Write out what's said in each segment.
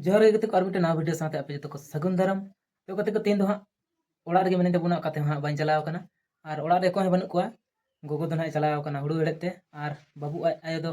ᱡᱚᱦᱟᱨ ᱜᱮ ᱜᱟᱛᱮ ᱠᱚ ᱟᱨ ᱢᱤᱫᱴᱮᱱ ᱱᱟᱣᱟ ᱵᱷᱤᱰᱤᱭᱳ ᱥᱟᱶᱛᱮ ᱟᱯᱮ ᱡᱚᱛᱚ ᱠᱚ ᱥᱟᱹᱜᱩᱱ ᱫᱟᱨᱟᱢ ᱛᱚ ᱜᱟᱛᱮ ᱠᱚ ᱛᱮᱦᱮᱧ ᱫᱚ ᱦᱟᱸᱜ ᱚᱲᱟᱜ ᱨᱮᱜᱮ ᱢᱮᱱᱟᱜ ᱛᱟᱵᱚᱱᱟ ᱚᱠᱟᱛᱮ ᱦᱟᱸᱜ ᱵᱟᱹᱧ ᱪᱟᱞᱟᱣ ᱟᱠᱟᱱᱟ ᱟᱨ ᱚᱲᱟᱜ ᱨᱮ ᱚᱠᱚᱭ ᱦᱚᱸ ᱵᱟᱹᱱᱩᱜ ᱠᱚᱣᱟ ᱜᱚᱜᱚ ᱫᱚ ᱱᱟᱦᱟᱜ ᱪᱟᱞᱟᱣ ᱟᱠᱟᱱᱟ ᱦᱩᱲᱩ ᱦᱮᱲᱦᱮᱫ ᱛᱮ ᱟᱨ ᱵᱟᱹᱵᱩ ᱟᱡ ᱟᱭᱳ ᱫᱚ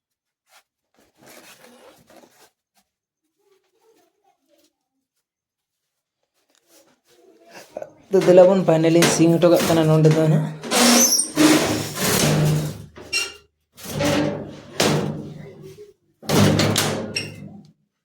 ᱛᱚ ᱫᱮᱞᱟ ᱵᱚᱱ ᱯᱷᱟᱭᱱᱮᱞᱤᱧ ᱥᱤᱝ ᱦᱚᱴᱚ ᱠᱟᱜ ᱠᱟᱱᱟ ᱱᱚᱸᱰᱮ ᱫᱚ ᱦᱟᱸᱜ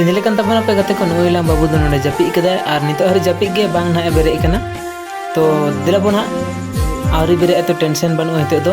ᱤᱫᱤ ᱞᱮᱠᱟᱱ ᱛᱟᱵᱚᱱ ᱟᱯᱮ ᱜᱟᱛᱮ ᱠᱚ ᱱᱩᱭ ᱞᱟᱝ ᱵᱟᱹᱵᱩ ᱫᱚ ᱱᱚᱰᱮ ᱡᱟᱹᱯᱤᱫ ᱠᱟᱫᱟᱭ ᱟᱨ ᱱᱤᱛᱚᱜ ᱦᱟᱹᱨᱤ ᱡᱟᱹᱯᱤᱫ ᱜᱮ ᱵᱟᱝ ᱱᱟᱦᱟᱜ ᱮ ᱵᱮᱨᱮᱫ ᱠᱟᱱᱟ ᱛᱚ ᱫᱮᱞᱟ ᱵᱚᱱ ᱦᱟᱸᱜ ᱟᱹᱣᱨᱤ ᱵᱮᱨᱮᱫ ᱛᱚ ᱴᱮᱱᱥᱮᱱ ᱵᱟᱹᱱᱩᱜᱼᱟ ᱱᱤᱛᱚᱜ ᱫᱚ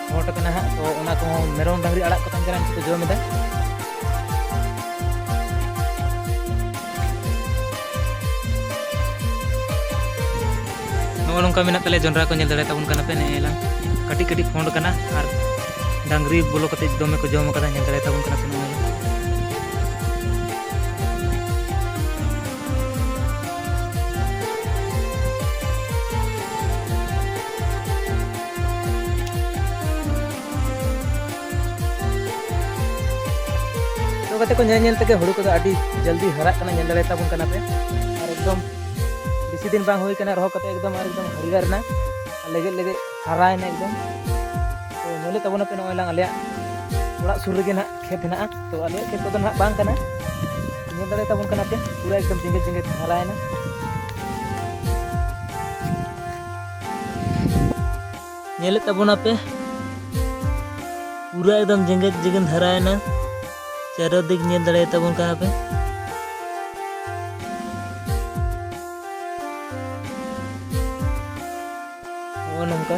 ᱢᱚᱴ ᱠᱟᱱᱟ ᱦᱟᱸᱜ ᱛᱚ ᱚᱱᱟ ᱠᱚᱦᱚᱸ ᱢᱮᱨᱚᱢ ᱰᱟᱝᱨᱤ ᱟᱲᱟᱜ ᱠᱚ ᱛᱟᱦᱮᱱ ᱠᱟᱱᱟ ᱩᱱᱠᱩ ᱠᱚ ᱡᱚᱢ ᱮᱫᱟ ᱱᱚᱜᱼᱚ ᱱᱚᱝᱠᱟ ᱢᱮᱱᱟᱜ ᱛᱟᱞᱮᱭᱟ ᱡᱚᱱᱰᱨᱟ ᱠᱚ ᱧᱮᱞ ᱫᱟᱲᱮ ᱛᱟᱵᱚᱱ ᱠᱟᱱᱟ ᱯᱮ ᱱᱮᱜᱼᱮ ᱞᱟᱝ ᱠᱟᱹᱴᱤᱡ ᱠᱟᱹᱴᱤᱡ ᱯᱷᱚᱸᱰ ᱠᱟᱱᱟ ᱟᱨ ᱰᱟᱝᱨᱤ ᱵᱚᱞᱚ ᱠᱟᱛᱮ ᱫᱚᱢᱮ ᱠᱚ ᱡᱚᱢ ᱠᱟᱫᱟ ᱧᱮᱞ ᱫᱟᱲᱮ ᱛᱟᱵᱚᱱ ᱠᱟᱱᱟ ᱯᱮ ᱱᱚᱜᱼᱚᱭ ᱠᱟᱛᱮ ᱠᱚ ᱧᱮᱞ ᱧᱮᱞ ᱛᱮᱜᱮ ᱦᱩᱲᱩ ᱠᱚᱫᱚ ᱟᱹᱰᱤ ᱡᱚᱞᱫᱤ ᱦᱟᱨᱟᱜ ᱠᱟᱱᱟ ᱧᱮᱞ ᱫᱟᱲᱮ ᱛᱟᱵᱚᱱ ᱠᱟᱱᱟ ᱯᱮ ᱟᱨ ᱮᱠᱫᱚᱢ ᱵᱮᱥᱤ ᱫᱤᱱ ᱵᱟᱝ ᱦᱩᱭ ᱠᱟᱱᱟ ᱨᱚᱦᱚᱭ ᱠᱟᱛᱮ ᱮᱠᱫᱚᱢ ᱟᱨ ᱮᱠᱫᱚᱢ ᱦᱟᱹᱨᱭᱟᱹᱲ ᱮᱱᱟ ᱞᱮᱜᱮᱡ ᱞᱮᱜᱮᱡ ᱦᱟᱨᱟᱭᱮᱱᱟ ᱮᱠᱫᱚᱢ ᱛᱚ ᱧᱮᱞᱮᱫ ᱛᱟᱵᱚᱱᱟ ᱯᱮ ᱱᱚᱜᱼᱚᱭ ᱞᱟᱝ ᱟᱞᱮᱭᱟᱜ ᱚᱲᱟᱜ ᱥᱩᱨ ᱨᱮᱜᱮ ᱱᱟᱦᱟᱜ ᱠᱷᱮᱛ ᱦᱮᱱᱟᱜᱼᱟ ᱛᱚ ᱟᱞᱮᱭᱟᱜ ᱠᱷᱮᱛ ᱠᱚᱫᱚ ᱱᱟᱦᱟᱜ ᱵᱟᱝ ᱠᱟᱱᱟ ᱧᱮᱞ ᱫᱟᱲᱮ ᱛᱟᱵᱚᱱ ᱠᱟᱱᱟ ᱯᱮ ᱯᱩᱨᱟᱹ ᱮᱠᱫᱚᱢ ᱡᱮᱸᱜᱮᱛ ᱡᱮᱸᱜᱮᱛ ᱦᱟᱨᱟᱭᱮᱱᱟ ᱧᱮᱞᱮᱫ ᱛᱟᱵᱚᱱᱟᱯᱮ ᱯᱩᱨᱟᱹ ᱮᱠᱫᱚᱢ ᱡᱮᱜᱮᱫ ᱡᱮᱜᱮᱱ ᱫᱷᱟᱨᱟᱭᱮᱱᱟ ᱪᱟᱨᱚ ᱫᱤᱠ ᱧᱮᱞ ᱫᱟᱲᱮᱭᱟ ᱛᱟᱵᱚᱱ ᱠᱟᱱᱟ ᱯᱮ ᱱᱚᱜᱼᱚ ᱱᱚᱝᱠᱟ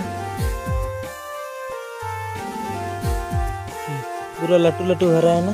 ᱯᱩᱨᱟᱹ ᱞᱟᱹᱴᱩ ᱞᱟᱹᱴᱩ ᱦᱟᱨᱟᱭᱮᱱᱟ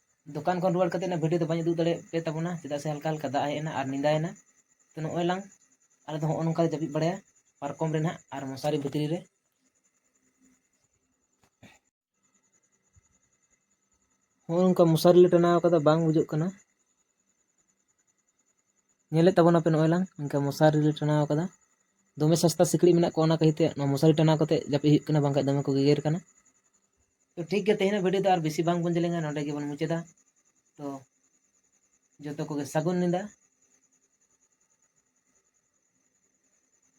ᱫᱚᱠᱟᱱ ᱠᱷᱚᱱ ᱨᱩᱣᱟᱹᱲ ᱠᱟᱛᱮᱫ ᱚᱱᱟ ᱵᱷᱤᱰᱤᱭᱳ ᱫᱚ ᱵᱟᱹᱧ ᱩᱫᱩᱜ ᱫᱟᱲᱮᱭᱟᱜ ᱯᱮ ᱛᱟᱵᱚᱱᱟ ᱪᱮᱫᱟᱜ ᱥᱮ ᱦᱟᱞᱠᱟ ᱦᱟᱞᱠᱟ ᱫᱟᱜ ᱦᱮᱡ ᱮᱱᱟ ᱟᱨ ᱧᱤᱫᱟᱹᱭᱮᱱᱟ ᱛᱚ ᱱᱚᱜᱼᱚᱭ ᱞᱟᱝ ᱟᱞᱮ ᱫᱚ ᱦᱚᱸᱜᱼᱚ ᱱᱚᱝᱠᱟ ᱞᱮ ᱡᱟᱹᱯᱤᱫ ᱵᱟᱲᱟᱭᱟ ᱯᱟᱨᱠᱚᱢ ᱨᱮ ᱱᱟᱦᱟᱜ ᱟᱨ ᱢᱚᱥᱟᱨᱤ ᱵᱷᱤᱛᱨᱤ ᱨᱮ ᱦᱚᱸᱜᱼᱚ ᱱᱚᱝᱠᱟ ᱢᱚᱥᱟᱨᱤ ᱞᱮ ᱴᱟᱱᱟᱣ ᱠᱟᱫᱟ ᱵᱟᱝ ᱵᱩᱡᱩᱜ ᱠᱟᱱᱟ ᱧᱮᱞᱮᱫ ᱛᱟᱵᱚᱱᱟᱯᱮ ᱱᱚᱜᱼᱚᱭ ᱞᱟᱝ ᱤᱱᱠᱟ ᱢᱚᱥᱟᱨᱤ ᱞᱮ ᱴᱟᱱᱟᱣ ᱠᱟᱫᱟ ᱫᱚᱢᱮ ᱥᱟᱥᱛᱟ ᱥᱤᱠᱲᱤᱡ ᱢᱮᱱᱟᱜ ᱠᱚᱣᱟ ᱚᱱᱟ ᱠᱷᱟᱹᱛᱤᱨ ᱛᱮ ᱱᱚᱣᱟ ᱢᱚᱥᱟᱨᱤ ᱴᱟᱱᱟᱣ ᱠᱟᱛᱮᱫ ᱡᱟᱹᱯᱤᱫ ᱦᱩᱭᱩᱜ ᱠᱟᱱᱟ ᱵᱟᱝᱠᱷᱟᱱ ᱫᱚᱢᱮ ᱠᱚ ᱜᱮᱜᱮᱨ ᱠᱟᱱᱟ ᱛᱚ ᱴᱷᱤᱠ ᱜᱮᱭᱟ ᱛᱮᱦᱮᱧᱟᱜ ᱵᱷᱤᱰᱤᱭᱳ ᱫᱚ ᱟᱨ ᱵᱮᱥᱤ ᱵᱟᱝ ᱵᱚᱱ ᱡᱮᱞᱮᱧᱟ ᱱᱚᱰᱮ ᱜᱮᱵᱚᱱ ᱢᱩᱪᱟᱹᱫᱟ ᱛᱚ ᱡᱚᱛᱚ ᱠᱚᱜᱮ ᱥᱟᱹᱜᱩᱱ ᱧᱤᱫᱟᱹ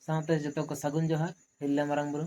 ᱥᱟᱶᱛᱮ ᱡᱚᱛᱚ ᱠᱚ ᱥᱟᱹᱜᱩᱱ ᱡᱚᱦᱟᱨ ᱦᱤᱨᱞᱟᱹ ᱢᱟᱨᱟᱝ ᱵᱩᱨᱩ